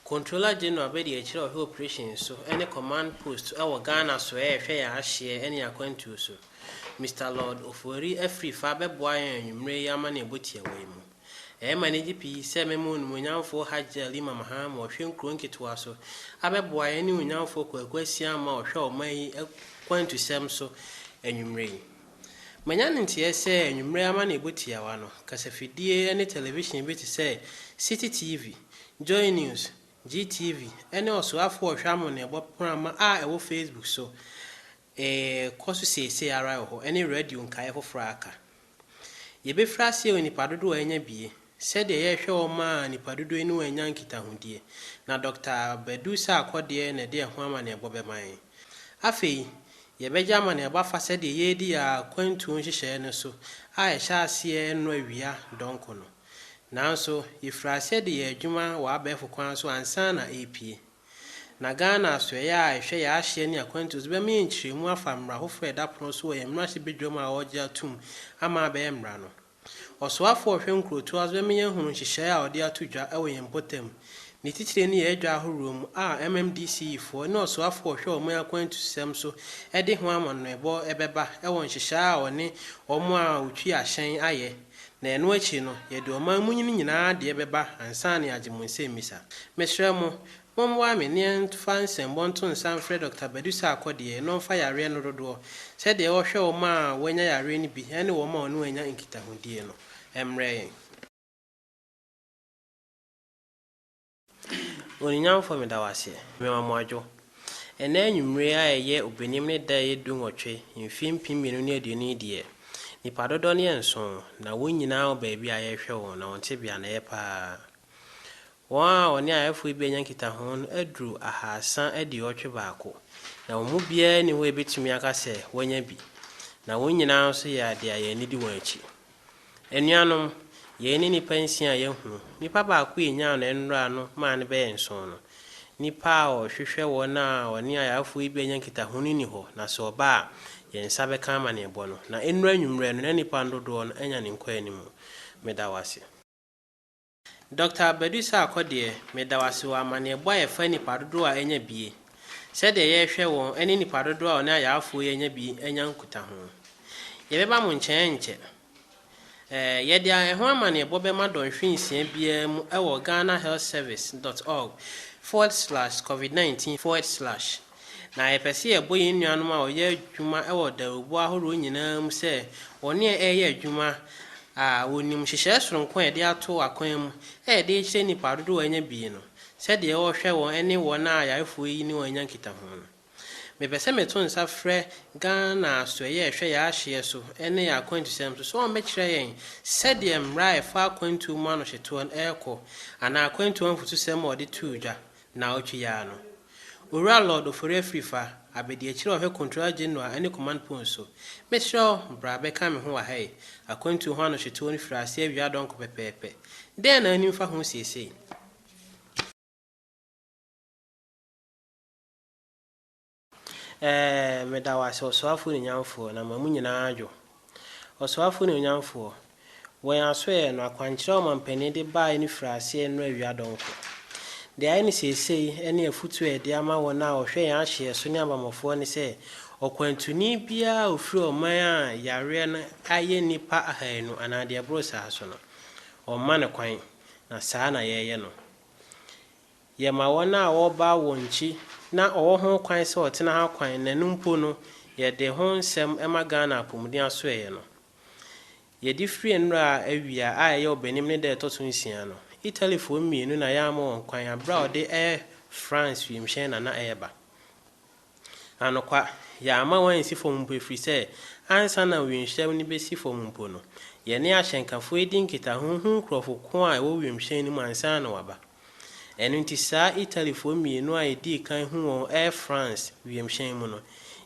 Controller General bɛdi akyire ɔhwɛ operations so ɛne command post ɛwɔ Ghana so ɛɛ hwɛ yɛn ahyeɛ ɛne yɛn akwantuo so. Mister Lord Ofoeri afiri fa bɛboa yɛn anwumerɛ yi amaneɛbɔ tiawa yi mu. Ɛyɛ me anigye pii sɛ mɛma Onimuonyamfoɔ Hajj Ali Mamaham a ɔhwɛ nkuro nketewa so abɛboa yɛn ne Onimuonyamfoɔ Kwaku Asiamah a ɔhwɛ ɔman yi akwantusɛm so anwumerɛ yi. Manya no nteɛɛ sɛ anwummere amanneɛbɔ tiawa no, kasafidie ne television bi te sɛ Citi TV, Joy News, GTV, ne Ɔsoafoɔ a Ɔhwɛ Amanneɛbɔ prama a ɛwɔ Facebook so rekɔ so seesei ara wɔ hɔ, ne radio nkaeɛ foforɔ a aka. Yɛbɛfiri aseɛ wɔ nnipa dodoɔ a anya bie. Sɛdeɛ yɛhwɛ wɔn ma nnipa dodoɔ yi no wɔanya nkitahodie, na Dɔkta Badu Sarkor deɛ na ɛde ɛho amanneɛbɔ bɛma yɛn. Afei, yɛbɛgye amanneɛbɔ afa sɛdeɛ yɛredi yɛn akwantuo nhyehyɛeɛ no so a ɛhyɛ aseɛ nnora awia dɔnkɔ no. Nanso, yɛfirii aseɛ de yɛn adwuma wɔ abɛɛfo kwan so ansa na ɛrepue. Na Ghana Asoɛeɛ a ɛhwɛ yɛn ahyeɛ ne akwantuo so bɛma yɛn nkyerɛmu afa mmara foforɔ a ɛda pono so wɔ yɛn mmarahyɛbadwam a wɔregye atom ama abɛyɛ mmara no. Ɔsoafo a ɔhwɛ nkurow toa so bɛma yɛahunu nhyehyɛe a ɔde ato dwa wɔ yɛn mpɔtam. Ne titire ne yɛn adwa ahorow mu a MMDCEfoɔ ne ɔsoafo a ɔhwɛ ɔman akwantusɛm so de ho amanneɛbɔ bɛba wɔ nhyehyɛe a ɔne wɔn a wotwi ahyɛn ayɛ, na ɛno akyi no, yɛde ɔman mu nyini nyinaa deɛ bɛba ansa na yɛagye mo nsɛmmisa. Mesrɛ mo, Mommoa me ne ɛmfa nsɛmbɔ nto nsa mfrɛ Dɔkta Badu Sarkor deɛ na ɔmfa yareɛ no dodoɔ, sɛdeɛ ɔhwɛ wɔn a wɔanya yareɛ no bi ne wɔn a ɔne wɔn anya nkitahodie no, mmrɛ yɛn. Oninyamfoɔ meda wo aseɛ. Mema mo adwo. Ɛnnɛ anwummere a ɛyɛ Obenim ne da a ɛyɛ dunwɔtwe mfeɛ mpem mmienu ne aduonu yi deɛ, nnipa dodɔ no yɛ nson, na wɔn nyinaa wɔ baabi a yɛrehwɛ wɔn, na wɔn tebea no ɛyɛ paa. Wɔn a wɔne ayefo yi benya nkitaho no aduru ahaasa aduɔwɔtwe baako, na wɔn mu biara nni hɔ a ebetumi aka sɛ wanya bi, na wɔn nyinaa nso yɛ ade a yɛn ani di wɔn akyi. Anuanom, yei ne nnipa nsia a yɛahu. Nipa baako a enyaa no nnora no maa no bɛyɛ nson no. Nnipa a wɔhwehwɛ wɔn a wɔne ayefo yi benya nkitaho no nni hɔ, na sɛ ɔba a, yɛn nsa bɛka amanneɛbɔ no. Na nnora anwummere no, na nnipa no dodoɔ no anya ne nkɔanimu. Meda wo ase. Dɔkta Badu Sarkor deɛ, meda wo ase wɔ amanneɛbɔ a ɛfa nnipa dodoɔ a anya bi, sɛdeɛ yɛrehwɛ wɔn ne nnipa dodoɔ a wɔne ayaafoɔ yi anya bi anya nkutaho. Yɛbɛba mo nkyɛn ankyɛ. Ɛɛ, yɛde ɛho amanneɛbɔ bɛma dɔnhwere nsia biara mu wɔ ghanahealthservice dot org forward slash covid nineteen forward slash. Na yɛpɛ sɛ yɛbɔ yɛn nuanom a wɔyɛ adwuma wɔ dawurubɔ ahorow nyinaa mu sɛ wɔne yɛn reyɛ adwuma a wonim nhyehyɛe soronko a yɛde ato akwan mu a yɛde rekyerɛ nnipa dodow a anya bi no sɛdeɛ wɔhwɛ wɔn ne wɔn a ayarefo yi ne wɔn anya nkitaho no. Mepɛ sɛ meto nsa frɛ Ghana Asoɛeɛ a Ɛhwɛ Yɛn Ahyeɛ So ne Yɛn Akwantusɛm So sɛ wɔmmɛkyerɛ yɛn sɛdeɛ mmara a ɛfa akwantuo mu anohyetoɔ no rekɔ anaa akwantuo ho afotusɛm a wɔde too dwa Naawɔtwe yi ara no, Owura Lord Ofori-Afrifa, Abadiakyiri Ɔhwɛ Controller General ne Command Post so, mesrɛ wo bra bɛka me ho wɔ ha yi. Akwantuo ho anohyetew no firi aseɛ awia dɔnkɔ pɛpɛɛpɛ. Dɛn na anim fa ho seesei? Ɛɛ, meda wo ase, Ɔsoafoɔ Nuonyamfoɔ, na ma mu nyinaa adwo. Ɔsoafoɔ Nuonyamfoɔ, wɔ yɛn asoɛeɛ no, akwankyerɛ a Ɔmampanin de baeɛ no firii aseɛ nnora awia dɔnko. Deɛ ayɛ no seesei ne afutuo a Yɛde ama wɔn a wɔhwɛ yɛn ahyeɛ so ne abammɔfoɔ ne sɛ, ɔkwantuni biara a ɔfiri ɔman a yareɛ no ayɛ nnipa ahaanu anaa deɛ ɛboro saa so no, wɔmma no kwan, na saa na yɛreyɛ no. Yɛma wɔn a wɔba wɔn nkyi na wɔwɔ ho kwan sɛ wɔtena ha kwan na ɛno mpo no yɛde ho nsɛm ma Ghana Apomuden Asoɛeɛ no. Yɛde firi nnora a awia a ɛyɛ ɔbɛnim ne da a ɛtɔ so nsia no, Italyfoɔ mmienu na yɛama wɔn kwan berɛ a wɔde Air France wiemhyɛn na na ɛreba. Anokwa, yɛamma wɔansi fam mpo ɛfiri sɛ ansa na wimhyɛn no bɛsi fam mpo no, yɛne ahyɛnkafo redi nkitaho hu nkurɔfo ko a ɛwɔ wimhyɛn no mu ansa na wɔaba. Ɛno nti saa Italyfoɔ mmienu a yɛdii kan hu wɔn Air France wimhyɛn mu no,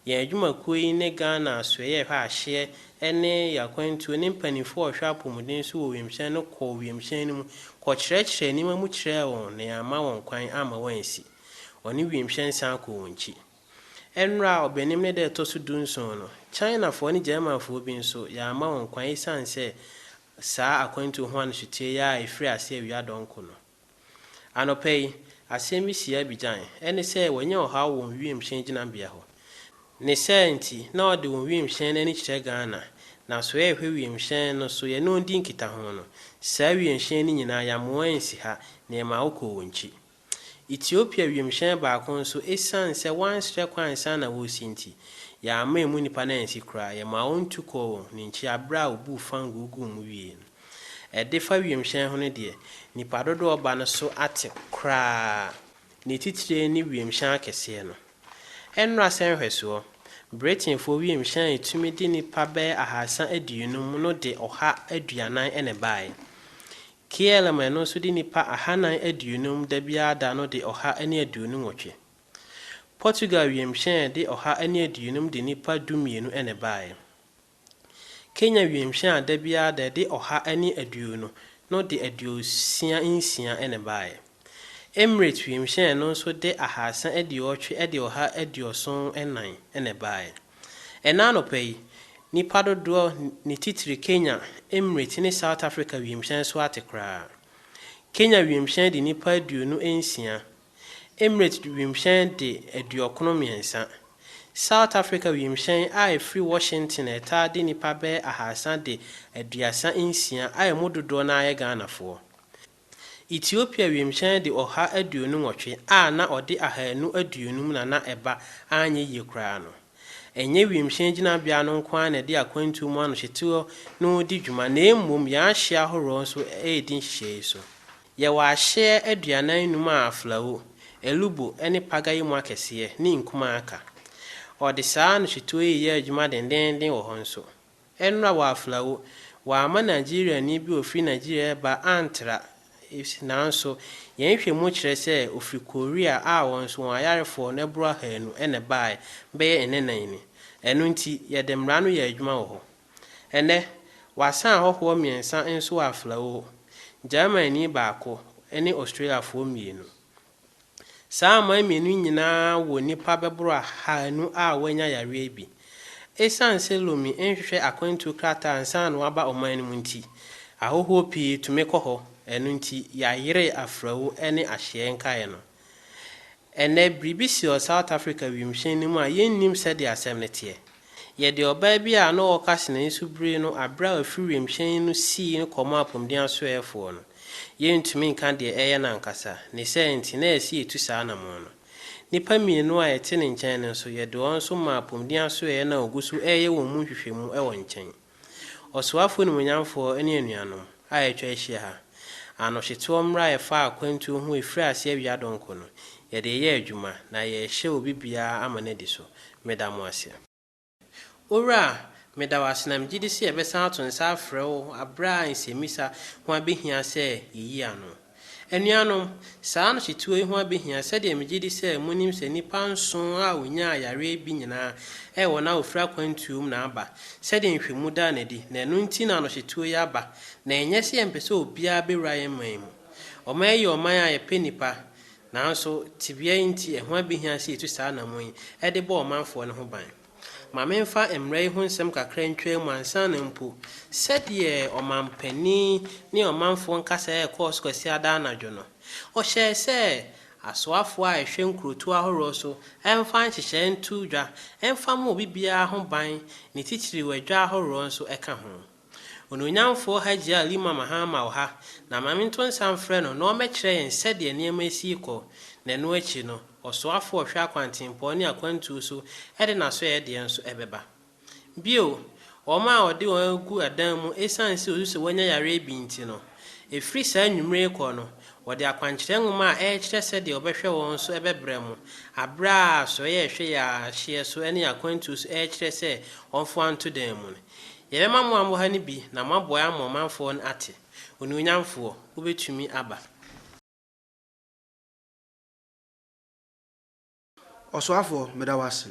yɛn adwumakuo yi ne Ghana Asoɛeɛ a Ɛhwɛ Ahyeɛ ne yɛn akwantuo ne mpanimfoɔ a wɔhwɛ apɔmuden so wɔ wimhyɛn no kɔɔ wimhyɛn no mu kɔkyerɛkyerɛɛ nneɛma mu kyerɛɛ wɔn na yɛamma wɔn kwan amma wɔansi. Ɔne wimhyɛn san kɔ wɔn akyi. Ɛnora a ɔbɛnim ne da a ɛtɔ so dunson no, Chinafoɔ ne Germanfoɔ bi nso, yɛamma wɔn kwan esiane sɛ saa akwantuo ho anohyeteɛ yi ara a ɛfirii aseɛ awia dɔnko no. Anɔpa yi, asɛm bi sii Abidjan, ɛne sɛ wɔanya ɔhaw wɔ wɔn wimhyɛn gyinabea hɔ. Ne saa nti, na wɔde wɔn wimhyɛn no ani kyerɛ Ghana, na so yɛrehwɛ wimhyɛn no so yɛne wɔn di nkitaho no, saa wimhyɛn no nyinaa, yɛammoa ansi ha, na yɛmaa wɔkɔɔ wɔn akyi. Ethiopia wimhyɛn baako nso, esiane sɛ wɔansrɛ kwan ansa na wɔresi nti, yɛamma emu nnipa no ansi koraa. Yɛmaa wɔn tu kɔɔ wɔn ne nkyia bere a wobuu fangoo guu mu wiei no. Ɛdefa wimhyɛn ho no deɛ, nnipa dodow a wɔba no so ate koraa, ne titire ne wimhyɛn akɛseɛ no. Ɛnnora sɛ nhwɛsoɔ, Britainfoɔ wimhyɛn a etumi de nnipa bɛyɛ ahasa aduonum no de ɔha aduanan na ɛbaeɛ. Kiehl ma ɛno nso de nnipa ahanan aduonum da biara da no de ɔha ne aduonu nwɔtwe. Portugal wiemhyɛn de ɔha ne aduonum de nnipa du mmienu na ɛbaeɛ. Kenya wiemhyɛn a da biara da ɛde ɔha ne aduonu no de aduosia nsia na ɛbaeɛ. Emirates wimhyɛn no nso de ahaasa aduɔwɔtwe de ɔha aduɔson nnan na ɛbaeɛ. Ɛna anɔpa yi, nnipa dodoɔ ne titire Kenya, Emirates ne South Africa wimhyɛn so ate koraa. Kenya wimhyɛn de nnipa aduonu nsia, Emirates wimhyɛn de aduɔkron mmiɛnsa. South Africa wimhyɛn a ɛfiri Washington a ɛtaa de nnipa bɛyɛ ahaasa de aduasa nsia a ɛmu dodoɔ no ara yɛ Ghanafoɔ. Ethiopia wimhyɛn de ɔha aduonu nwɔtwe a na ɔde ahaanu aduonum na na ɛba anyɛ yie koraa no. Ɛnyɛ wimhyɛn gyinabea no nko ara na ɛde akwantuo mu anohyeteɔ no redi dwuma na mmom yɛn ahyeɛ ahoroɔ nso redi nhyehyɛɛ yi so. Yɛwɔ ahyeɛ aduanan num a Aflao, Elubo ne Paga yi mu akɛseɛ ne nkumaa ka. Wɔde saa anohyetuo yi reyɛ adwuma dendeenden wɔ hɔ nso. Ɛnora wɔ Aflao, wɔamma Nigeriani bi a ɔfiri Nigeria reba antra. Nanso, yɛn nhwɛmu kyerɛ sɛ ɔfiri Korea a wɔn nso wɔn ayarefoɔ no boro ahanu na ɛbaeɛ bɛyɛ nnɛnan ni. Ɛno nti, yɛde mmara no yɛɛ adwuma wɔ hɔ. Ɛnnɛ, wɔasan ahɔhoɔ mmiɛnsa nso wɔ Aflao, Germanni baako ne Australiafoɔ mmienu. Saa aman mmienu yi nyinaa wɔ nnipa bɛboro ahanu a wɔanya yareɛ bi. Ɛsiane sɛ Lome nhwehwɛ akwantuo krataa ansa na waba ɔman no mu nti, ahɔhoɔ pii tumi kɔ hɔ, ɛno nti yɛayere afrawu ne ahyeɛ nkaeɛ no. Ɛnnɛ, biribi si wɔ South Africa wimhyɛn no mu a yɛnnim sɛdeɛ asɛm no teɛ. Yɛ deɛ ɔbaa bi a na ɔreka se n'ani so biri no aberɛ a wafiri wiemhyɛn no sii no kɔmɔ apomuden asoɛɛfoɔ no. Yɛrentumi nka deɛ ɛreyɛ no ankasa, ne sɛɛ nti na ɛse yɛtu saa anamɔn no. Nnipa mmienu a yɛte ne nkyɛn no nso, yɛde wɔn nso maa apomuden asoɛeɛ no a wɔgu so reyɛ wɔn mu nhwehwɛmu wɔ nkyɛn. Ɔsoafo nimuonyamfoɔ ne anuanom a atwa ahyia ha, anohyeteɔ mmara a ɛfa akwantuo ho a ɛfiri aseɛ awia dɔnkɔ no, yɛde reyɛ adwuma na yɛrehyɛ obi biara ama no adi so. Meda mo ase. Owura, meda wo ase na megye di sɛ yɛbɛsan ato nsa afrɛ wo berɛ a nsɛmmisa ho abɛhia sɛ yɛyi ano. Anuanom, saa anohyetuo yi ho abɛhia sɛdeɛ megye di sɛ monim sɛ nnipa nson a wɔnyaa yareɛ bi nyinaa yɛ wɔn a wɔfiri akwantuo mu na aba, sɛdeɛ nhwɛmu daa no adi, na ɛno nti na anohyetuo yi aba, na ɛnyɛ sɛ yɛmpɛ sɛ obiara bɛwura yɛn man mu. Ɔman yi yɛ ɔman a yɛpɛ nnipa, nanso tebea yi nti ɛho abɛhia sɛ yɛtu saa anammɔn yi de bɔ ɔmanfoɔ no ho ban. Ma memfa mmara yi ho nsɛm kakra ntwaa mu ansa na mpo sɛdeɛ ɔmampanin ne ɔmanfoɔ nkasa rekɔɔ so Kwasiada anadwo no, ɔhyɛɛ sɛ asoafoɔ a ɛhwɛ nkurotoɔ ahoroɔ so mfa nhyehyɛeɛ nto dwa mfa mmɔ obi biara ho ban, ne titiriw adwa ahoroɔ nso ka ho. Onuonyamfoɔ Hajia Lima Mahama wɔ ha, na ma mento nsa mfrɛ no na ɔmmɛkyerɛ yɛn sɛdeɛ nneɛma asi rekɔ, na ɛno akyi no, ɔsoafoɔ a ɔhwɛ akwantempɔn ne akwantuo so de n'asoɛeɛ deɛ nso bɛba. Bio, wɔn a wɔde wɔn agu adan mu ɛsiane sɛ wɔsu sɛ wɔanya yareɛ bi nti no, ɛfiri saa anwummere rekɔ no, wɔde akwankyerɛ nwoma a ɛrekyerɛ sɛdeɛ wɔbɛhwɛ wɔn nso bɛbrɛ mo, berɛ a asoɛeɛ a ɛhwɛ yɛn ahyeɛ so ne yɛn akwantuo so rekyerɛ sɛ wɔmfa wɔn nto dan mu no. Yɛbɛma mo amoha no bi na moaboa ama ɔmanfoɔ no ate, Onuonyamfoɔ, wobɛtumi aba. Ɔsoafoɔ, meda wo ase.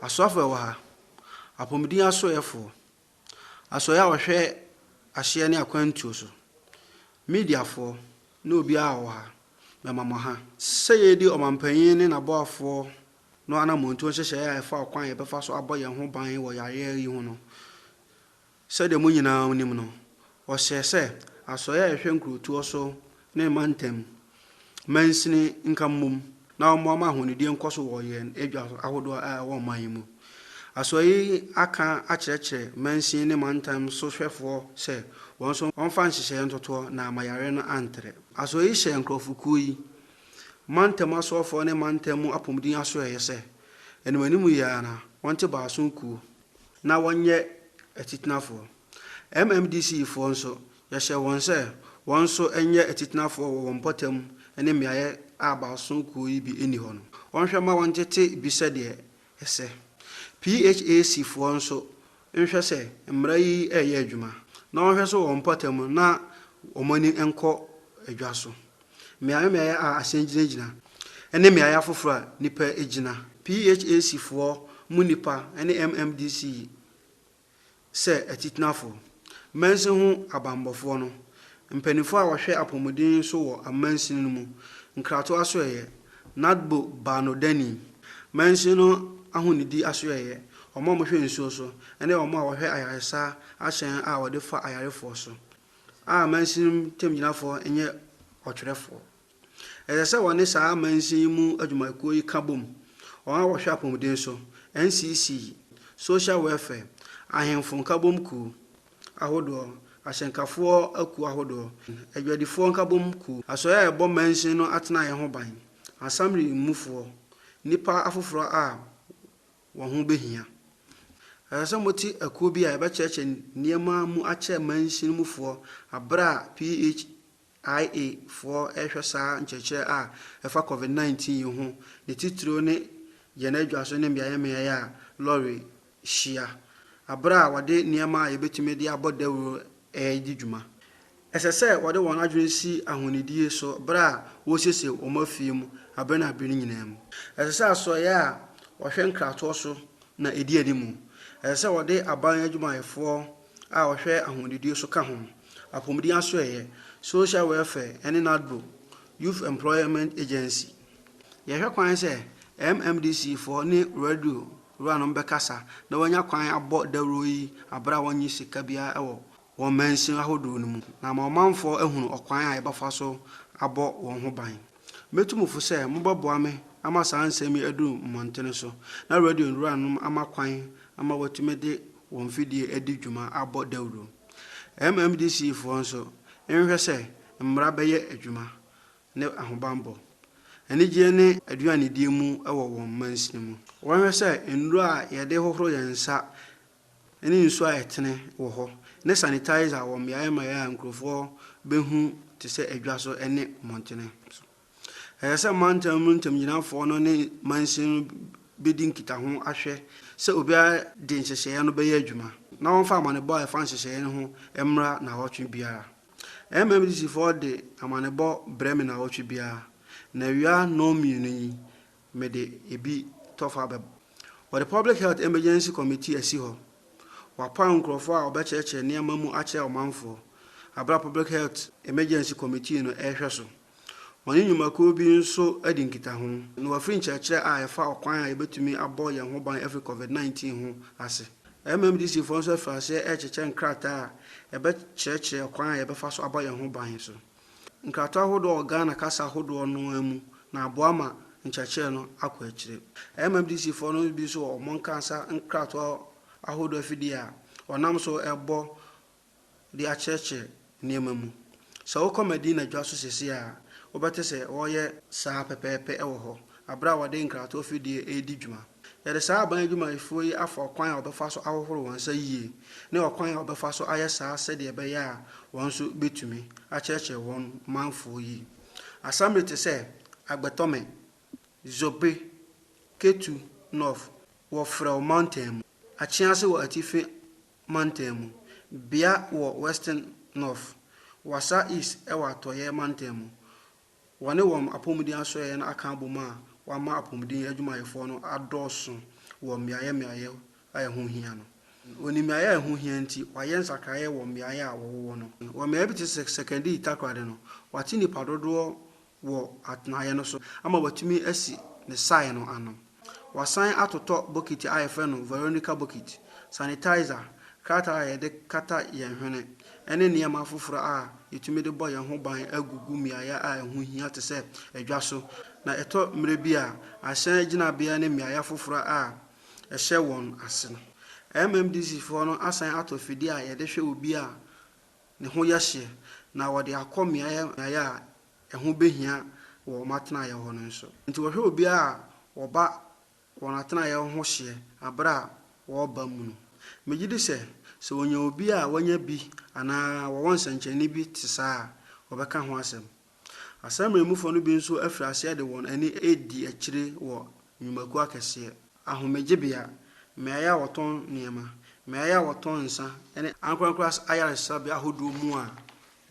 Asoafoɔ a ɛwɔ ha, apɔmuden asoɛɛfoɔ, asoɛeɛ a wɔhwɛ ahyeɛ ne akwantuo so, mediafoɔ, ne obiara a ɔwɔ ha, mema mo ha. Sɛ yɛredi ɔmanpanin ne n'aboafoɔ no anamɔntuo nhyehyɛeɛ a ɛfa ɔkwan a yɛbɛfa so abɔ yɛn ho ban wɔ yareɛ yi ho no. Sɛdeɛ mo nyinaa nim no, ɔhyɛɛ sɛ Asoɛeɛ a ɛhwɛ nkurotoɔ so ne mantam mansini nka mmom na wɔmmoa ma ahonidie nkɔ so wɔ yɛn adwa ahodoɔ a ɛwɔ ɔman yi mu. Asoɛeɛ yi aka akyerɛkyerɛ mansin ne mantam sohwɛfoɔ sɛ wɔn nso wɔmfa nhyehyɛeɛ ntotoɔ na ama yareɛ no antrɛ. Asoɛeɛ yi hyɛɛ nkurɔfokuo yi Mantam asoɔfoɔ ne mantam mu apɔmuden asoɛeɛ yɛ sɛ, animanim yɛ ara na wɔnte baason kuo na wɔnyɛ atitenafoɔ. MMDC-foɔ nso, yɛhyɛɛ wɔn sɛ wɔn nso nyɛ atitenafoɔ wɔ wɔn mpɔtam ne mmeaeɛ a baason kuo yi bi nni hɔ no. Wɔnhwɛ mma wɔntete bi sɛdeɛ ɛsɛ. PHAC foɔ nso nhwɛ sɛ mmara yi reyɛ adwuma, na wɔnhwɛ nso wɔ wɔn mpɔtam na wɔn ani nkɔ dwa so. Mmeaeɛ mmeaeɛ a ahyɛn gyinagyina ne mmeaeɛ afoforɔ a nnipa gyina. PHAC foɔ mu nnipa ne MMDC sɛ atitenafo, mansin ho abanbɔfoɔ no, mpaninfoɔ a wɔhwɛ apɔmuden so wɔ amansin no mu, nkrato asoɛeɛ, Nadbo Baanodani, mansin no ahonidi asoɛeɛ, wɔn a wɔhwɛ nsuo so, ne wɔn a wɔhwɛ ayaresa ahyɛn a wɔde fa ayarefoɔ so, a mansin no ntamgyinafoɔ nyɛ ɔtwerɛfoɔ. Ɛsɛ sɛ wɔne saa amansin yi mu adwumayɛkuo yi ka bom, wɔn a wɔhwɛ apɔmuden so, NCC, Social Welfare, Ahemfo Nkabom Kuw ahodoɔ, Ahyɛnkafoɔ akuo ahodoɔ, Adwadifoɔ Nkabom Kuw, Asoɛe a ɛbɔ mansin no atenaeɛ ho ban, Asamre mufoɔ, nnipa afoforɔ a wɔn ho bɛhia. Ɛsɛ sɛ mote akuo bi a ɛbɛkyerɛkyerɛ nneɛma mu akyerɛ mansin mufoɔ berɛ a ph. IA foɔ rehwɛ saa nkyerɛkyerɛ a ɛfa Covid 19 yi ho, ne titiriw ne yɛn adwaso ne mmeaemmeae a lɔre hyia, bere a wɔde nneɛma a yebetumi de abɔ dawuru redi dwuma. Ɛsɛ sɛ wɔde wɔn adwene si ahonidie so bere a wɔresiesie wɔn afie mu bere ne bere nyinaa mu. Ɛsɛ sɛ asoɛeɛ a wɔhwɛ nkratoɔ so na ɛdi anim. Ɛsɛ sɛ wɔde aban adwumayɛfoɔ a ɔhwɛ ahomdidie so ka ho, Apomuden Asoɛeɛ, Social Welfare ne NADBO, Youth Employment Agency. Yɛhwɛ kwan sɛ MMDC foɔ ne Radio wuranom bɛkasa na wɔanya kwan abɔ dawuro yi aberɛ a wɔnnye sika biara wɔ wɔn mansin ahodoɔ no mu na ama ɔmanfoɔ ahunu ɔkwan a yɛbɛfa so abɔ wɔn ho ban. Metu mo fo sɛ mobɛboa me ama saa nsɛm yi aduru mmɔntene so, na radio no wuranom ama kwan ama wɔatumi de wɔn mfidie adi dwuma abɔ dawuro. MMDC foɔ nso, nhwɛ sɛ mmara bɛyɛ adwuma, ne ahobanbɔ, anigyeɛ ne aduanedie mu wɔ wɔn mansini mu. Wɔnhwɛ sɛ nnuro a yɛde hohoro yɛn nsa ne nsu a ɛtene wɔ hɔ, ne sanitizer wɔ mmeae mmeae a nkurɔfoɔ bɛhu te sɛ adwa so ne mmɔntene so. Ɛsɛ sɛ mantam mu ntamgyinafoɔ no ne mansin no bɛdi nkitaho ahwɛ sɛ obiara de nhyehyɛeɛ no bɛyɛ adwuma na wɔmfa amanebɔ a ɛfa nhyehyɛeɛ no ho mmra nnawɔtwe biara. MMDCfoɔ de amanebɔ brɛ me nnawɔtwe biara, na awia nnɔnmienu yi, Mede ebi tɔ fa bɛ. Wɔde Public Health Emergency Committee asi hɔ. Wɔapaw nkurɔfo a wɔbɛkyerɛkyerɛ nneɛma mu akyerɛ ɔmanfo bere a Public Health Emergency Committee no rehwɛ so. Wɔne nnwumakuw bi nso adi nkitaho, na wɔafiri nkyerɛkyerɛ a ɛfa ɔkwan a yebetumi abɔ yɛn ho ban afi Covid nineteen ho ase. MMDCfo nso afi ase rekyekyɛ nkrataa a ɛbɛkyerɛkyerɛ ɔkwan a yɛbɛfa so abɔ yɛn ho ban so. Nkratoɔ ahodoɔ wɔ Ghana kasa ahodoɔ no ara mu na aboa ma nkyerɛkyerɛ no akɔ akyire. MMDC foɔ no bi nso wɔ wɔn ankasa nkratoɔ ahodoɔ afidie a wɔnam so rebɔ de akyerɛkyerɛ nneɛma mu. Sɛ wokɔ Medina dwa so seesei a, wobɛte sɛ wɔreyɛ saa pɛpɛɛpɛ wɔ hɔ, berɛ a wɔde nkratoɔ afidie redi dwuma. Yɛde saa aban adwumayɛfoɔ yi afa ɔkwan a wɔbɛfa so ahohoro wɔn nsa yie ne ɔkwan a wɔbɛfa so ayɛ saa sɛdeɛ ɛbɛyɛ a wɔn nso bɛtumi akyerɛkyerɛ wɔn manfoɔ yi asamre te sɛ Agbetɔme, Zobe, Ketu North wɔ Frɛw Mantam mu, Akyease wɔ Atifi Mantam mu, Bia wɔ Western North, Wassa East wɔ Atɔeɛ Mantam mu, Wɔne wɔn apɔmuden asoɛeɛ no aka abom a wɔama apɔmuden adwumayɛfoɔ no adɔɔso wɔ mmeaeɛ mmeaeɛ a ɛho hia no. Wɔnim mmeaeɛ a ɛho hia nti, wɔayɛ nsakraeɛ wɔ mmeaeɛ a wɔwowɔ no. Wɔ mmeaeɛ bi te sɛ Sekondi Takoradi no, wɔate nnipa dodoɔ wɔ atenaeɛ no so ama wɔatumi asi ne sae no ano. Wɔasan atotɔ bokiti a wɔfrɛ no Veronica Bokiti, sanitizer, krataa a yɛde kata yɛn hwene, ne nneɛma afoforo a yetumi de bɔ yɛn ho ban agugu mmeae a ɛho hia te sɛ adwa so, na ɛtɔ mmere bi a, ahyɛn gyinabea ne mmeae afoforo a ɛhyɛ wɔn ase no. MMDCfoɔ no asan atɔ afidie a yɛde hwɛ obi a ne ho yɛ hyeɛ, na wɔde akɔ mmeae a ɛho behia wɔ wɔn atenaeɛ hɔ no nso. Enti wɔhwɛ obiara a ɔba wɔn atenaeɛ hɔ ho hyeɛ bere a wɔreba mu no. Megye di sɛ, sɛ wɔnya obi a wanya bi anaa wɔwɔ nsɛnkyerɛnne bi te saa a, wɔbɛka ho asɛm. Asɛmmɔnemmufo no bi nso afi aseɛ de wɔn ani redi akyire wɔ nnwumakuo akɛseɛ, ahomegyebea, mmeaeɛ a wɔtɔn nneɛma, mmeaeɛ a wɔtɔn nsã ne ankorankoro ayaresabea ahodoɔ mu a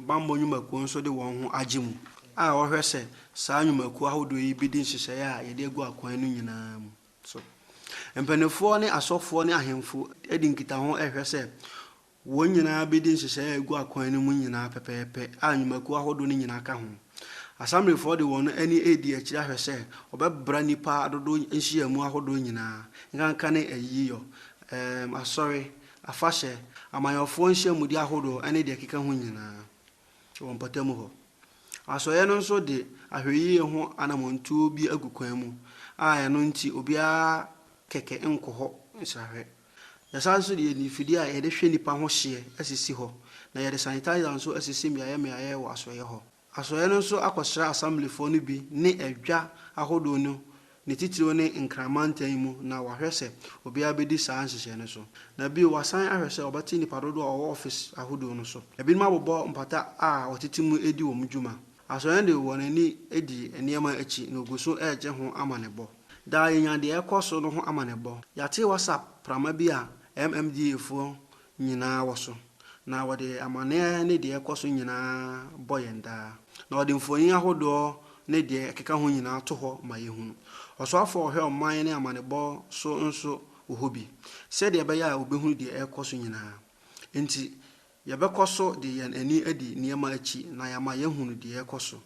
bammɔ nnwumakuo nso de wɔn ho agye mu a wɔhwɛ sɛ saa nnwumakuo ahodoɔ yi bɛdi nhyehyɛeɛ a yɛde agu akwan no nyinaa mu so. Mpanimfoɔ ne asɔfoɔ ne ahemfo di nkitaho hwɛ sɛ Wɔn nyinaa bedi nhyehyɛe a egu akwan no mu nyinaa pɛpɛɛpɛ, a nnwumakuw ahodow no nyinaa ka ho. Asamblefo de wɔn ani redi akyiri ahwɛ sɛ wɔbɛbra nnipa dodow nhyiamu ahodow nyinaa, nkanka ne ayiyɔ, um asɔre, afahyɛ, amanyɔfoɔ nhyiamudi ahodoɔ ne deɛ ɛkeka ho nyinaa, wɔ mpɔtam hɔ. Asɔeɛ no nso de ahwɛyie ho anammɔntuo bi agu kwan mu a ɛno nti obiara kɛkɛ nkɔ hɔ nsrahwɛ. Yɛsan nso de mfidie a yɛde hwɛ nnipa ho hyeɛ asisi hɔ, na yɛde sanitizer nso asisi mmeaeɛ mmeaeɛ wɔ asoɛeɛ hɔ. Asoɛeɛ no nso akɔsra Assemblyfoɔ no bi ne adwa ahodoɔ no, ne titiriw ne Nkran mantan mu, na wɔahwɛ sɛ obiara bɛdi saa nhyehyɛe no so. Na bio, wɔasan ahwɛ sɛ wɔbɛte nnipa dodoɔ a wɔwɔ office ahodoɔ no so. Ebinom abobɔ mpata a wɔtete mu di wɔn dwuma. Asɔre no de wɔn ani di nneɛma akyi na wɔgu so regye ho amanebɔ. Daa yenya deɛ ɛrekɔ so no ho amanebɔ. Yɛate WhatsApp prama bi a MMDAfoɔ nyinaa wɔ so, na wɔde amanneɛ ne deɛ ɛrekɔ so nyinaa bɔ yɛn daa. Na wɔde mfoni ahodoɔ ne deɛ ɛkeka ho nyinaa to hɔ ma yɛhunu. Ɔsoafoɔ a ɔhwɛ ɔman ne amanebɔ so nso wɔ hɔ bi, sɛdeɛ ɛbɛyɛ a wɔbɛhunu deɛ ɛrekɔ so nyinaa. Enti, Yɛbɛkɔ so de yɛn ani adi nneɛma akyi na yɛama yɛahunu deɛ ɛrekɔ so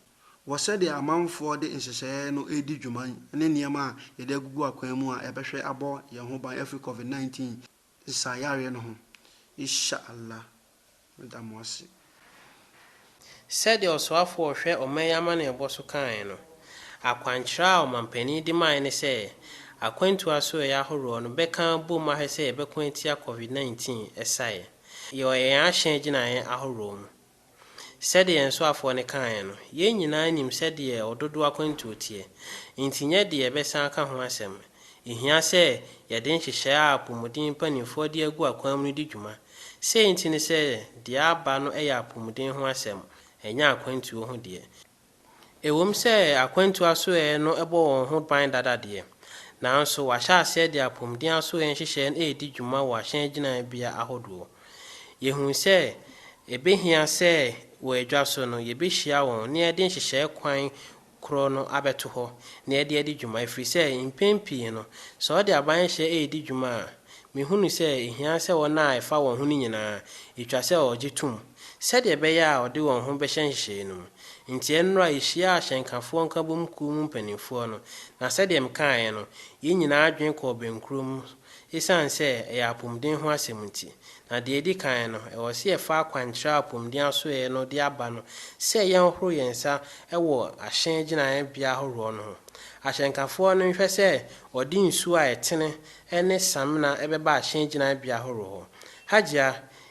wɔ sɛdeɛ amanfoɔ de nhyehyɛeɛ no redi dwuma ne nneɛma a yɛde agugu akwan mu a ɛbɛhwɛ abɔ yɛn ho ban afiri Covid 19 nsaeyareɛ no ho. Insha Allah. Meda mo ase. Sɛdeɛ ɔsoafoɔ a ɔhwɛ ɔman yi amanneɛbɔ so kaeɛ no, akwankyerɛ a ɔmampanin de maeɛ ne sɛ akwantuo asoɛeɛ ahoroɔ no bɛka abom ahwɛ sɛ yɛbɛko atia Covid 19 ɛsaeɛ wɔ yɛn ahyɛn gyinaeɛ ahoroɔ mu. Sɛdeɛ yɛn soafoɔ no kaeɛ no, yɛn nyinaa nim sɛdeɛ ɔdodoɔ akwantuo teɛ, enti nyɛ deɛ yɛbɛsan aka ho asɛm. Ɛhia sɛ yɛde nhyehyɛeɛ a apɔmuden mpanimfoɔ de agu akwan mu no di dwuma Sei nti ne sɛ deɛ aba no yɛ apomuden ho asɛm, ɛnyɛ akwantuo ho deɛ. Ɛwom sɛ akwantuo asoɛeɛ no bɔ wɔn ho ban dada deɛ, nanso wɔahyɛ aseɛ de apomuden asoɛeɛ nhyehyɛeɛ no redi dwuma wɔ ahyɛn gyinabea ahodoɔ. Yɛhunu sɛ ɛbɛhia sɛ wɔ adwa so no yɛbɛhyia wɔn na yɛde nhyehyɛeɛ kwan koro no abɛto hɔ na ɛde adi dwuma, ɛfiri sɛ mpɛn pii no, sɛ ɔde abaeɛnhyɛ redi dwuma a, mehunu sɛ ɛhia sɛ wɔn a ɛfa wɔn ho no nyinaa, ɛtwa sɛ ɔgye tom sɛdeɛ ɛbɛyɛ a ɔde wɔn ho bɛhyɛ nhyehyɛeɛ no mu. Enti ɛnnora a yɛhyiaa Ahyɛnkafoɔ Nkabom Kuo mu mpanimfoɔ no, na sɛdeɛ mekaeɛ no, yɛn nyinaa adwene kɔɔ bɛnkorɔ mu, esiane sɛ ɛyɛ apɔmuden ho asɛm nti. Na deɛ ɛdi kan no, ɛwɔ sɛ yɛfa akwankyerɛ a apɔmuden asoɛeɛ no de aba no sɛ yɛnhoro yɛn nsa wɔ ahyɛn gyinaeɛbea ahoroɔ no ho. Ahyɛnkafoɔ no nhwɛ sɛ wɔde nsuo a ɛtene ne samena bɛba ahyɛn gyinaeɛbea ahoroɔ hɔ. Hajia,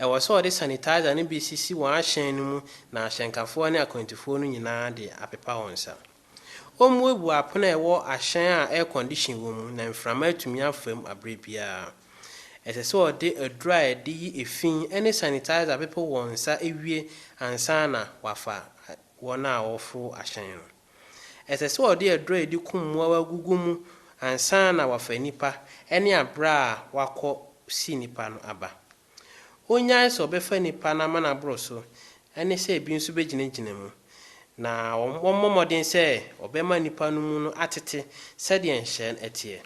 Ɛwɔ sɛ wɔde sanitizer no bi sisi wɔn ahyɛn no mu na ahyɛnkafoɔ ne akwantufoɔ no nyinaa de apepa wɔn nsa. Wɔmmuebue apono a ɛwɔ ahyɛn a air condition wɔ mu na mframa atumi afa mu aberɛ biara. Ɛsɛ sɛ wɔde aduro a ɛde yi efi ne sanitizer pepe wɔn nsa wie ansa na wɔafa wɔn a wɔforo ahyɛn no. Ɛsɛ sɛ ɔde aduru a ɛde kum mmoawa gugu mu ansa na wafa nnipa ne abere a wakɔ si nnipa no aba. Onnyae sɛ ɔbɛfa nnipa no amanaboro so ne sɛ ebi nso bɛgyinagyina mu, na wɔmmɔ mmɔden sɛ wɔbɛma nnipa no mu no atete sɛdeɛ nhyɛn teɛ.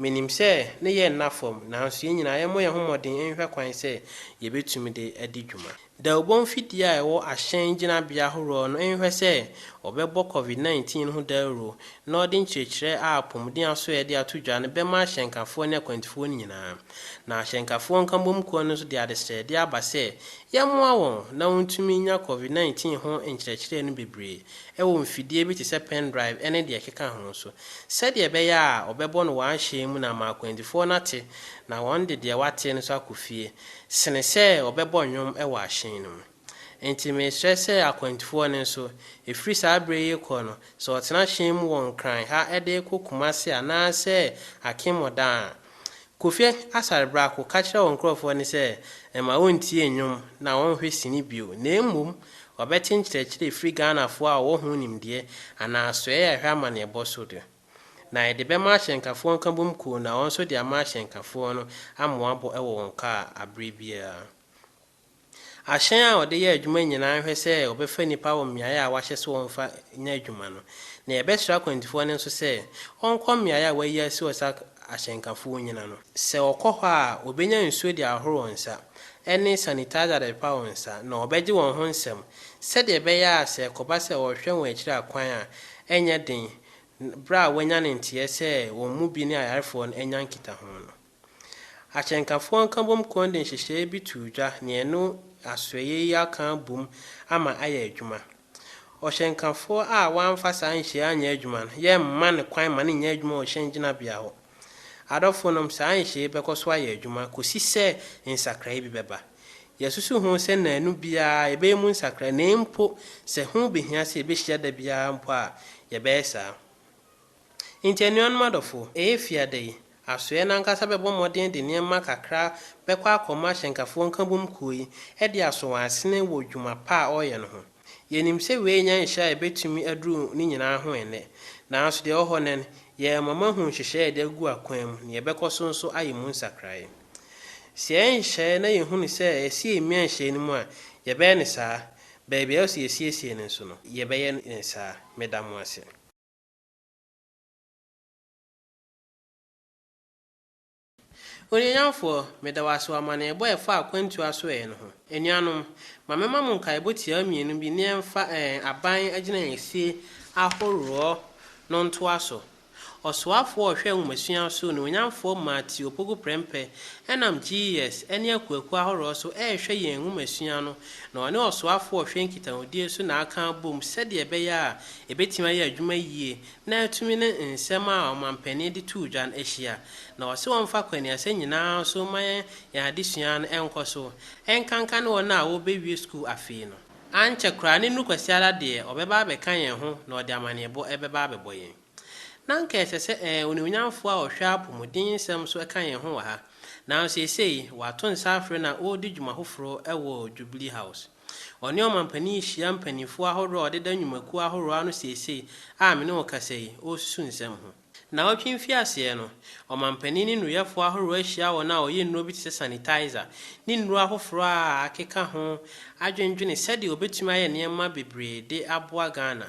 Minim sɛ ne yɛ nna fam, nanso yɛn nyinaa yɛmmɔ yɛn ho mmɔden nhwehwɛ kwan sɛ yebetumi de adi dwuma. Dawubɔ mfidie a ɛwɔ ahyɛn gyinabea ahoroɔ no nhwɛ sɛ wɔbɛbɔ Covid nineteen ho dawuro na wɔde nkyerɛkyerɛ a apɔmuden aso a yɛde ato dwa no bɛma ahyɛnkafoɔ ne akwantufoɔ no nyinaa. Na ahyɛnkafoɔ nkabom kuo no nso de adesrɛdeɛ aba sɛ yɛmmoa wɔn na wɔntumi nnya Covid nineteen ho nkyerɛkyerɛ no bebree wɔ mfidie bi te sɛ pendrive ne deɛ ɛkeka ho so, sɛdeɛ ɛbɛyɛ a ɔbɛbɔ no wɔ ahyɛn mu na ama akwantufoɔ no ate na wɔde deɛ wɔateɛ no nso akɔ fie, sene sɛ ɔbɛbɔ nnwom wɔ ahyɛn no mu. Enti mesrɛ sɛ akwantufoɔ no nso, ɛfiri saa berɛ yi rekɔ no, sɛ wɔtena hyɛn mu wɔ Nkran ha de rekɔ Kumasi anaasɛ Akim Odan a, Kofi Asare Brako ka kyerɛɛ wɔn nkurɔfoɔ no sɛ mma wɔntie nnwom na wɔnhwɛ sini bio, na mmom wɔbɛte nkyerɛkyerɛ firi Ghanafoɔ a wɔwɔ ho nimdeɛ anaa asoɛeɛ a ɛhwɛ amanneɛbɔ so de. Na yɛde bɛma ahyɛnkafoɔ nkabom kuo na wɔn nso de ama ahyɛnkafoɔ no amoabɔ wɔ wɔn kaa aberɛ biara. Ahyɛn a wɔde yɛ adwuma nyinaa nhwɛ sɛ wɔbɛfa nnipa wɔ mmeae a wɔahyɛ sɛ wɔmfa nyɛ adwuma no, na yɛbɛsrɛ akwantufoɔ no nso sɛ wɔnkɔ mmeae a wɔayi asi hɔ sɛ ahyɛnkafo nnyina no. Sɛ wɔkɔ hɔ a, wɔbɛnya nsuo de ahohoro wɔn nsa, ne sanitizer de apepa wɔn nsa, na wɔbɛgye wɔn ho nsɛm, sɛdeɛ ɛbɛyɛ a sɛ ɛkɔba sɛ wɔrehwɛ wɔn akyiri akwan a, ɛrenyɛ den berɛ a wɔanya ne nteɛ sɛ wɔn mu bi ne ayarefoɔ no anya nkitaho no. Akyɛnkafoɔ nkabom kɔn de nhyehyɛeɛ bi too dwa nea ɛne asoɛeɛ yi aka abom ama ayɛ adwuma. Ɔhyɛnkafoɔ a wamfa saa nhyehyɛeɛ anyɛ adwuma no, yɛremma no kwan ma no nyɛ adwuma wɔ hyɛn gyinabea hɔ. Adɔfonom, saa nhyehyɛeɛ yi bɛkɔ so ayɛ adwuma kɔsi sɛ nsakraeɛ bi bɛba. Yɛasusu ho sɛ nnanu biara yɛbɛyɛ mu nsakraeɛ na mpo sɛ ho bɛhia sɛ yɛbɛhyia da biara mpo a, yɛbɛyɛ saa. Enti anuanom adɔfo, ɛyɛ fi ada yi, asoɛe no ankasa bɛbɔ mmɔden de nneɛma kakra bɛkɔ akɔma ahyɛnkafoɔ nkabom kuo yi de asɔ wɔn asene wɔ dwuma pa a ɔreyɛ no ho. Yɛnim sɛ wei nyɛ nhyɛ a ɛbɛtumi aduru ne nyinaa ho ɛnnɛ, nanso deɛ ɛwɔ hɔ nnɛ no, yɛrema moahu nhyehyɛeɛ a yɛde agu akwan mu na yɛbɛkɔ so nso ayɛ mu nsakraeɛ. Sɛ yɛyɛ nhyehyɛeɛ na yɛhunu sɛ ɛsɛ sɛ yɛmia nhyehyɛeɛ no mu a, yɛbɛyɛ no saa. Baabi a ɛwɔ sɛ yɛsiesie no nso no, yɛbɛyɛ no saa. Meda mo ase. Onuonyamfoɔ, meda wo ase wɔ amanneɛbɔ a ɛfa akwantuo asoɛeɛ no ho. Anuanom, ma memma mo nkaebɔ tiaa mmienu bi ne ɛmfa ɛɛn aban agyinaeɛsie ahoroɔ no ntoa so. Ɔsoafoɔ a ɔhwɛ nwomasua so, Onuonyamfoɔ Matthew Opoku Prempeh, nam GES ne akuakuo ahoroɔ so rehwɛ yɛn nwomasua no, na ɔne Ɔsoafoɔ a ɔhwɛ nkitahodie so na aka abom sɛdeɛ ɛbɛyɛ a Ebetumi ayɛ adwuma yiye na atumi ne nsɛm a ɔmampanin de too dwa no ahyia. Na ɔse wɔmfa akwannuasɛm nyinaa so mma yɛn yɛn adesua no nkɔ so, ɛnkanka ne wɔn a wɔrebewie sukuu afei no. Ankyɛ koraa ne nnuru Kwasiada deɛ ɔbɛba abɛka yɛn ho na ɔde amanneɛbɔ bɛba abɛbɔ yɛn. Na anka ɛsɛ sɛ ɛɛ Onuonyamfoɔ a ɔhwɛ apɔmudensɛm so ka yɛn ho wɔ ha. Nanso seesei, wato nsa afrɛ na ɔredi dwuma foforo wɔ Jubilee House. Ɔne ɔmampanin yi hyia mpanimfoɔ ahoroɔ a wɔdeda nnwumakuo ahoroɔ ano seesei a me ne wo rekasa yi, wɔresusu nsɛm ho. Nnawɔtwe mfiaseɛ no, ɔmampanin ne nnuruyɛfoɔ ahoroɔ ahyia wɔn a wɔyɛ nnuro bi te sɛ sanitizer ne nnuro afoforɔ a akeka ho adwendwene sɛdeɛ wɔbɛtumi ayɛ nneɛma bebree de aboa Ghana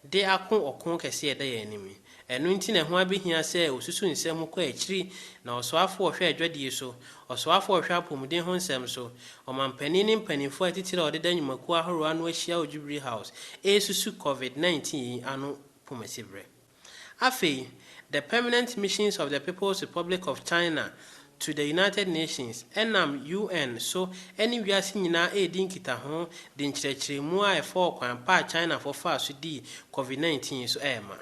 de ako ɔko kɛseɛ a ɛda yɛn anim yi Ɛno nti na ɛho abehia sɛ osusuw nsɛm ho kɔ akyiri na ɔsoafo a ɔhwɛ adwadie so, ɔsoafo a ɔhwɛ apɔmuden ho nsɛm so, ɔmampanyin ne mpanyimfo a atitire a wɔdeda nnwumakuw ahorow ano ahyia wɔ Jubilee House resusu Covid nineteen yi ano poma siberɛ. Afei, The Permanent Missions of the People's Republic of China to the United Nations ɛnam UN so ɛne wiase nyinaa redi nkitaho de nkyerɛkyerɛmu a ɛfa ɔkwan pa a Chinafo faa so dii Covid nineteen so rema.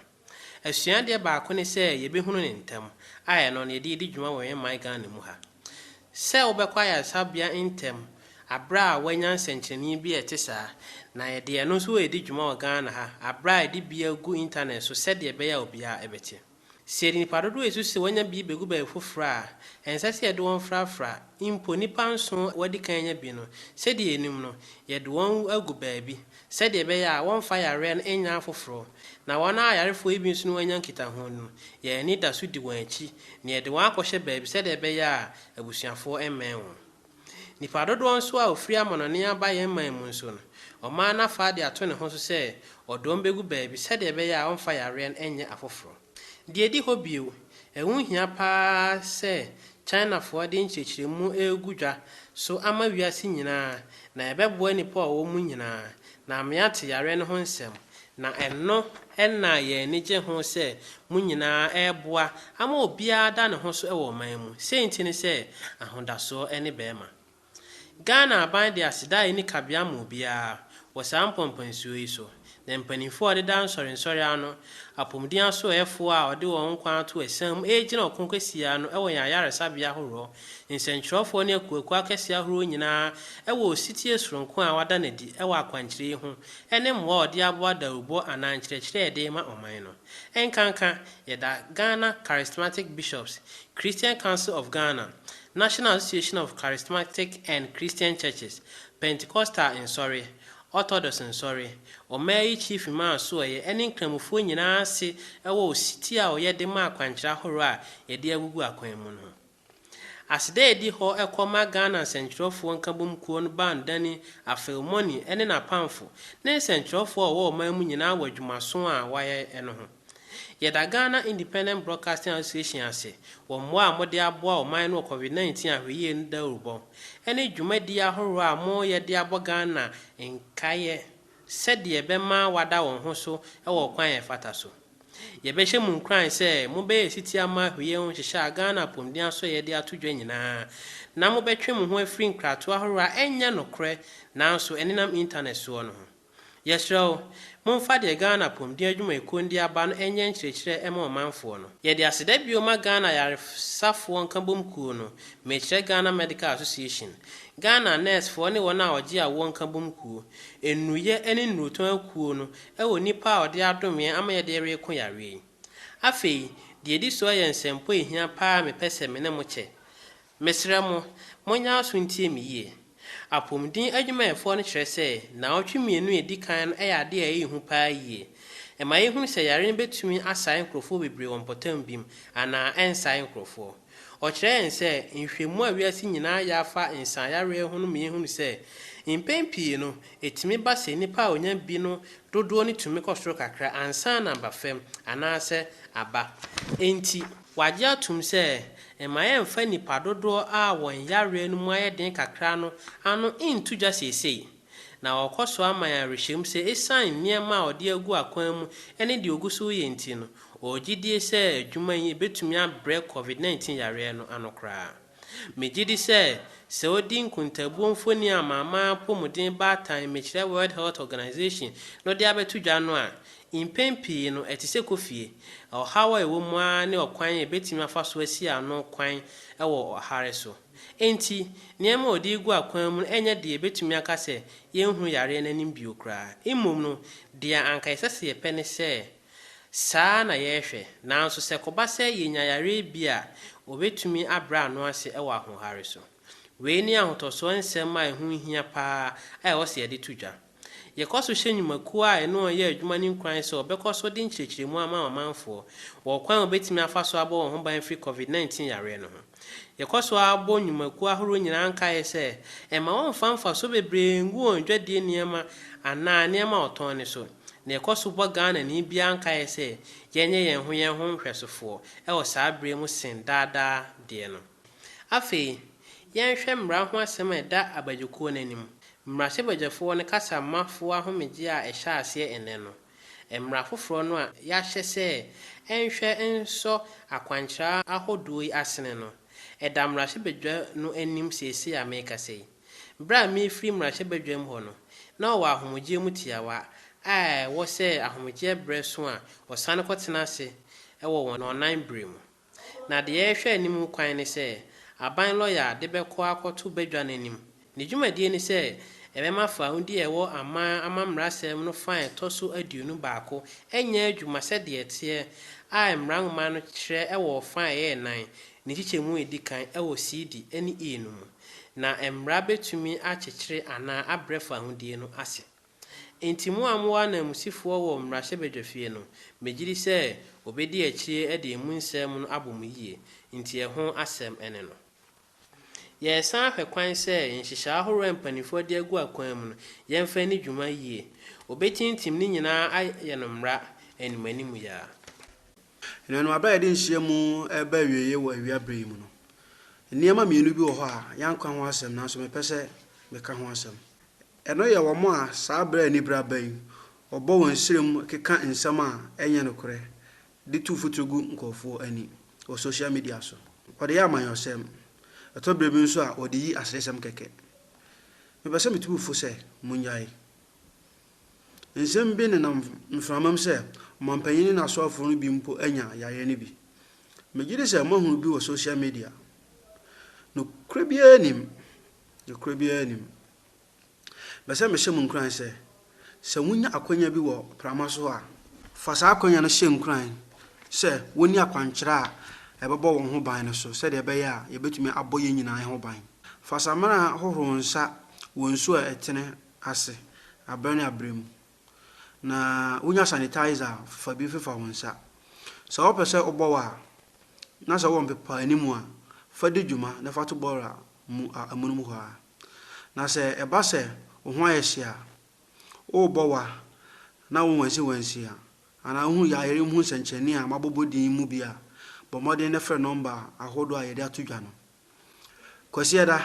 Asuadeɛ baako ne sɛ yɛbɛhunu no ntɛm, a ɛno na yɛde redi dwuma wɔ yɛn man Ghana mu ha. Sɛ wobɛkɔ ayaresabea ntɛm aberɛ a woanya nsɛnkyerɛnee bi a ɛte saa, na yɛde ɛno nso redi dwuma wɔ Ghana ha aberɛ a yɛde bi agu internet so sɛdeɛ ɛbɛyɛ a obiara bɛte. Sɛ yɛde nnipa dodow a yesusuw sɛ wɔanya bi begu baabi foforo a, ɛnsɛ sɛ yɛde wɔn frafra. Mpo nnipa nson a wɔadi kan anya bi no, sɛnea yenim no, yɛde wɔn agu baabi sɛnea ɛbɛyɛ a wɔremfa yare no nnyɛ afoforo. Na wɔn a ayarefo yi bi nso ne wɔn anya nkitaho no, yɛn ani da so di wɔn akyi, na yɛde wɔn akɔhyɛ baabi sɛnea ɛbɛyɛ a abusuafo remmɛn wɔn. Nnipa dodoɔ nso a wɔfiri amannɔne aba yɛn man mu nso no, ɔman no afa de ato ne ho so sɛ ɔde wɔn bɛgu baabi sɛdeɛ ɛbɛyɛ a ɔmfa yareɛ no nyɛ afoforɔ. Deɛ ɛdi hɔ bio, ɛho hia pa ara sɛ Chinafoɔ de nkyerɛkyerɛmu regu dwa so ama wiase nyinaa na ɛbɛboa nnipa a wɔwɔ mu nyinaa Na meate yareɛ no ho nsɛm, na ɛno na yɛn ani gye ho sɛ mo nyinaa reboa ama obiara da ne ho so wɔ ɔman mu, sei nti ne sɛ ahodasoɔ ne bɛrima. Ghana aban de aseda a ɛnni kabea ma obiara wɔ saa mpɔmpɔnsuo yi so, na mpaninfoɔ a wɔdeda nsɔrensɔre ano, apomuden asoɛɛfoɔ a wɔde wɔn nkwa ato asiane mu regyina ɔko kɛseɛ ano wɔ yɛn ayaresabea ahoroɔ Nsɛnkyerɛwfoɔ ne akuakuo akɛseɛ ahoroɔ nyinaa wɔ osetie soronko a wɔada no adi wɔ akwankyerɛ yi ho ne mmoa a wɔde aboa dawurubɔ anaa nkyerɛkyerɛ a yɛde rema ɔman no. Ɛnkanka, yɛda Ghana Charismatic Bishops, Christian Council of Ghana, National Association of Charismatic and Christian Churches, Pentecostal Nsɔre, Orthodox Nsɔre, ɔmaa yi Chief Imam Asoɔeɛ ne Nkramofoɔ nyinaa ase wɔ osetie a wɔyɛ de ma akwankyerɛ ahoroɔ a yɛde agugu akwan mu no ho. Aseda a edi hɔ kɔ ma Ghana Nsɛnkyerɛwfoɔ Nkabom Kuo no baa no dani Afeu Moni ne n'apamfo ne nsɛnkyerɛwfoɔ a wɔwɔ ɔman mu nyinaa wɔ adwumaso a wɔayɛ no ho. Yɛda Ghana Independent Broadcasting Association ase wɔ mmoa a mode aboa ɔman no wɔ Covid 19 Ahwɛyie no dawurubɔ ne dwumadi ahoroɔ a moreyɛ de abɔ Ghana nkaeɛ. sɛdeɛ ɛbɛma wɔada wɔn ho so wɔ ɔkwan a ɛfata so. Yɛbɛhyɛ mo nkuran sɛ mobɛyɛ setie ama ahweyɛ ho nhyehyɛ a Ghana Apɔmuden Asoɛeɛ de ato dwa nyinaa, na mobɛtwe mo ho afiri nkratoɔ ahoroɔ a ɛnyɛ nokorɛ nanso ɛnenam intanɛt soɔ no ho. Yɛsrɛ wo, momfa deɛ Ghana Apɔmuden Adwumayɛkuo no de aba no nyɛ nkyerɛkyerɛ mma ɔmanfoɔ no. Yɛde aseda bio ma Ghana Ayaresafoɔ Nkabom Kuo no, mekyerɛ Ghana Medical Association, Ghana Nɛɛsfoɔ ne wɔn a wɔgye awoɔ nkabom kuo, Nnuruyɛ ne nnurutɔn akuo no wɔ nnipa a ɔde adom yɛn ama yɛde reko yareɛ yi. Afei, deɛ ɛdi soɔ yɛ nsɛmpɔ a ɛhia pa ara a mepɛ sɛ me ne mo kyɛ. Mesrɛ mo, monyɛ aso ntie me yie. Apomuden adwumayɛfoɔ no kyerɛ sɛ nnawɔtwe mmienu a ɛdi kan no yɛ adeɛ a ɛyɛ hu pa ara yie. Ɛma yɛhunu sɛ yareɛ no bɛtumi asae nkorɔfoɔ bebree wɔ mpɔtam bim anaa ɛnsae nkorɔfoɔ. Ɔkyerɛ yɛn sɛ nhwehwɛmu a wiase nyinaa yɛ afa nsaeyareɛ ho no ma yɛhunu sɛ, mpɛn pii no, ɛtumi ba sɛ nnipa a wɔnya bi no dodoɔ no tumi kɔ soro kakra ansa na aba fam anaasɛ aba. Enti, wɔagye atom sɛ mma yɛmfa nnipa dodoɔ a wɔn yareɛ no mu ayɛ den kakra no ano nto dwa seesei. Na ɔkɔ so ama yɛn awerɛhyɛmu sɛ esiane nneɛma a ɔde agu akwan mu ne deɛ ɔgu so reyɛ nti no, ɔwɔ gyidie sɛ adwuma yi bɛtumi abrɛ Covid 19 yareɛ no ano koraa. Megye di sɛ, sɛ wodi nkontaabuo mfoni a Amanaman Apɔmuden Baatan Mmekyerɛ World Health Organization no de abɛto dwa no a, mpɛn pii no ɛte sɛ kɔ fie. Ɔhaw a ɛwɔ mu ara ne ɔkwan a yɛbɛtumi afa so asi ano kwan wɔ ɔhare so. Enti, nneɛma a ɔde regu akwan mu no renyɛ deɛ yɛbɛtumi aka sɛ yɛnhunu yareɛ no anim bio koraa. Mmom no, deɛ anka ɛsɛ sɛ yɛpɛ ne sɛ saa ara na yɛrehwɛ. Nanso sɛ ɛkɔba sɛ yɛnya yareɛ bi a, wɔbɛtumi abrɛ ano ase wɔ ahoɔhare so. Wei ne ahotɔsoɔ nsɛm a ɛho hia pa ara a ɛwɔ sɛ yɛde to dwa. Yɛkɔ so hyɛ nnwumakuo a ɛne wɔn yɛ adwuma no nkuran sɛ wɔbɛkɔ so de nkyerɛkyerɛmu ama ɔmanfoɔ wɔ ɔkwan a wɔbɛtumi afa so abɔ wɔn ho ban afiri Covid nineteen yareɛ no ho. Yɛkɔ so ara bɔ nnwumakuo ahoroɔ nyinaa nkaeɛ sɛ mma wɔmmfa mfasoɔ bebree nngu wɔn dwadie nneɛma anaa nneɛma a wɔtɔn no so, na yɛkɔ so bɔ Ghanani biara nkaeɛ sɛ yɛnyɛ yɛn ho yɛn ho nhwɛsofoɔ wɔ saa berɛ yi mu sen daa daa deɛ no. Afei, yɛnhwɛ mmara ho asɛm a ɛda abadwokuo no anim. Mmarahyɛbadwafoɔ no kasa ma foɔ ahomegyeɛ a ɛhyɛ aseɛ nnɛ no. Mmara foforɔ no a yɛahyɛ sɛ ɛnhwɛ nsɔ akwankyerɛ ahodoɔ yi asene no, ɛda mmarahyɛbadwa no anim seesei a merekasa yi. Berɛ a merefiri mmarahyɛbadwam hɔ no, na ɔwɔ ahomegyeɛ mu tiawa a ɛwɔ sɛ ahomegyeɛ berɛ so a wɔsane kɔtena ase wɔ wɔn ɔnan berɛ mu. Na deɛ ɛrehwɛ anim kwan ne sɛ aban lɔya de bɛkɔ akɔto badwa no anim. Ne dwumadie ne sɛ ɛbɛma faawudi a ɛwɔ aman amammerɛasɛm no fã a ɛtɔ so aduonu baako nyɛ adwuma sɛdeɛ ɛteɛ a mmara nwoma no kyerɛ wɔ fã a ɛyɛ nnan, ne nkyekyɛmu a ɛdi kan wɔ CD ne E no mu. Na mmara bɛtumi akyekyere anaa abrɛ faawudie no ase. Enti mo a mowɔ ananmusifoɔ wɔ mmarahyɛbadwafie no, megyedi sɛ wɔbɛdi akyire de emu nsɛm no abɔ mo yie, nti ɛho asɛm ne no. Yɛresan ahwɛ kwan sɛ nhyehyɛe ahoroɔ a mpanimfoɔ de agu akwan mu no, yɛmfa nni dwuma yie. Wɔbɛtintim ne nyinaa ayɛ no mmara animuanimu yi ara. Anuanom, berɛ a yɛde nhyiamu reba awieeɛ wɔ awia berɛ yi mu no, nneɛma mmienu bi wɔ hɔ a yɛanka ho asɛm nanso mepɛ sɛ meka ho asɛm. Ɛno yɛ wɔn a saa bere a anibere aba yi, wɔbɔ wɔn nsirem keka nsɛm a ɛnyɛ nokorɛ de tu mfuturo gu nkurɔfoɔ ani wɔ social media so. Wɔde yɛ amanyɔsɛm. Ɛtɔ berɛ bi nso a, wɔde yi aseresɛm kɛkɛ. Mepɛ sɛ metu mo fo sɛ monnyae. Nsɛm bi nenam mframam sɛ ɔmampanyin ne n'asoafoɔ no bi mpo anya yareɛ no bi. Megye di sɛ moahunu bi wɔ social media. Nokorɛ biara nnim. Nokorɛ biara nnim. Mepɛ sɛ mehyɛ mo nkuran sɛ, sɛ wunya akwanya bi wɔ prama so a, fa saa akwanya no hyɛ nkuran sɛ wonni akwankyerɛ a ɛbɛbɔ wɔn ho ban no so sɛnea ɛbɛyɛ a yebetumi abɔ yɛn nyinaa ho ban. Fa samina hohoro wo nsa wɔ nsu a ɛtene ase bere ne bere mu, na wunya sanitizer a, fa bi mfefa wo nsa. Sɛ wɔpɛ sɛ wɔbɔ wo a, na sɛ wowɔ mpepaanimu a, fa di dwuma na fa to bɔɔla mu a amonom hɔ ara. Na sɛ ɛba sɛ wo ho ayɛ hye a, worebɔ wa na wo wansiwansi a, anaa wohu yayere mu nsɛnkyerɛnne a mabobɔ din yi mu bi a, bɔ mmɔden na frɛ nɔmba ahodoɔ a yɛde ato dwa no. Kwasiada,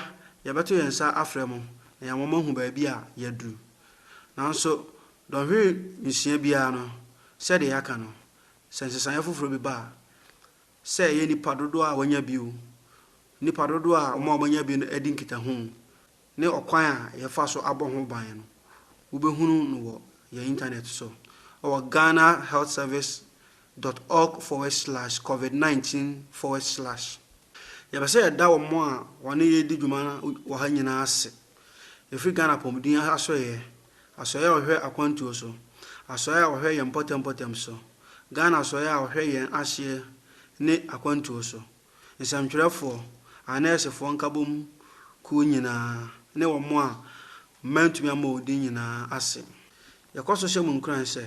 yɛbɛto yɛn nsa afrɛ mo na yɛama mo ahu baabi a yɛaduru. Nanso dɔnhwere nsia biara no, sɛdeɛ yɛaka no, sɛ nsesaeɛ foforɔ bi ba a, Sɛ ɛyɛ nnipa dodoɔ a wɔanya bi o, nnipa dodoɔ a wɔn a wɔanya bi no adi nkitaho ne ɔkwan a yɛfa so abɔ ho ban no, wobɛhunu no wɔ yɛn intanɛt so wɔ ghanahealthservice dot org forward slash covid nineteen forward slash. Yɛpɛ sɛ yɛda wɔn a wɔne yɛn redi dwuma wɔ ha nyinaa ase, ɛfiri Ghana Apɔmuden Asoɛeɛ. Asoɛe a ɔhwɛ akwantuo so. Asoɛe a ɔhwɛ yɛn mpɔtam mpɔtam so. Ghana Asoɛe a ɔhwɛ yɛn ahyeɛ ne akwantuo so. Nsɛmtwerɛfoɔ, anɛɛsefoɔ nkabom kuo nyinaa ne wɔn a mantumi ammɔ wɔn din nyinaa ase. Yɛkɔ so hyɛ mo nkuran sɛ,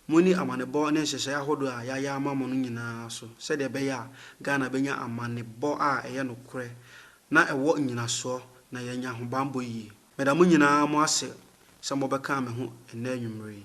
monni amanebɔ ne nhyehyɛe ahodoɔ a yɛayɛ ama mo no nyinaa so sɛdeɛ ɛbɛyɛ a Ghana bɛnya amanebɔ a ɛyɛ nokorɛ na ɛwɔ nnyinasoɔ na yɛanya ahobammɔ yie. Meda mo nyinaa mo ase sɛ mobɛkaa me ho ɛnnɛ anwummere yi.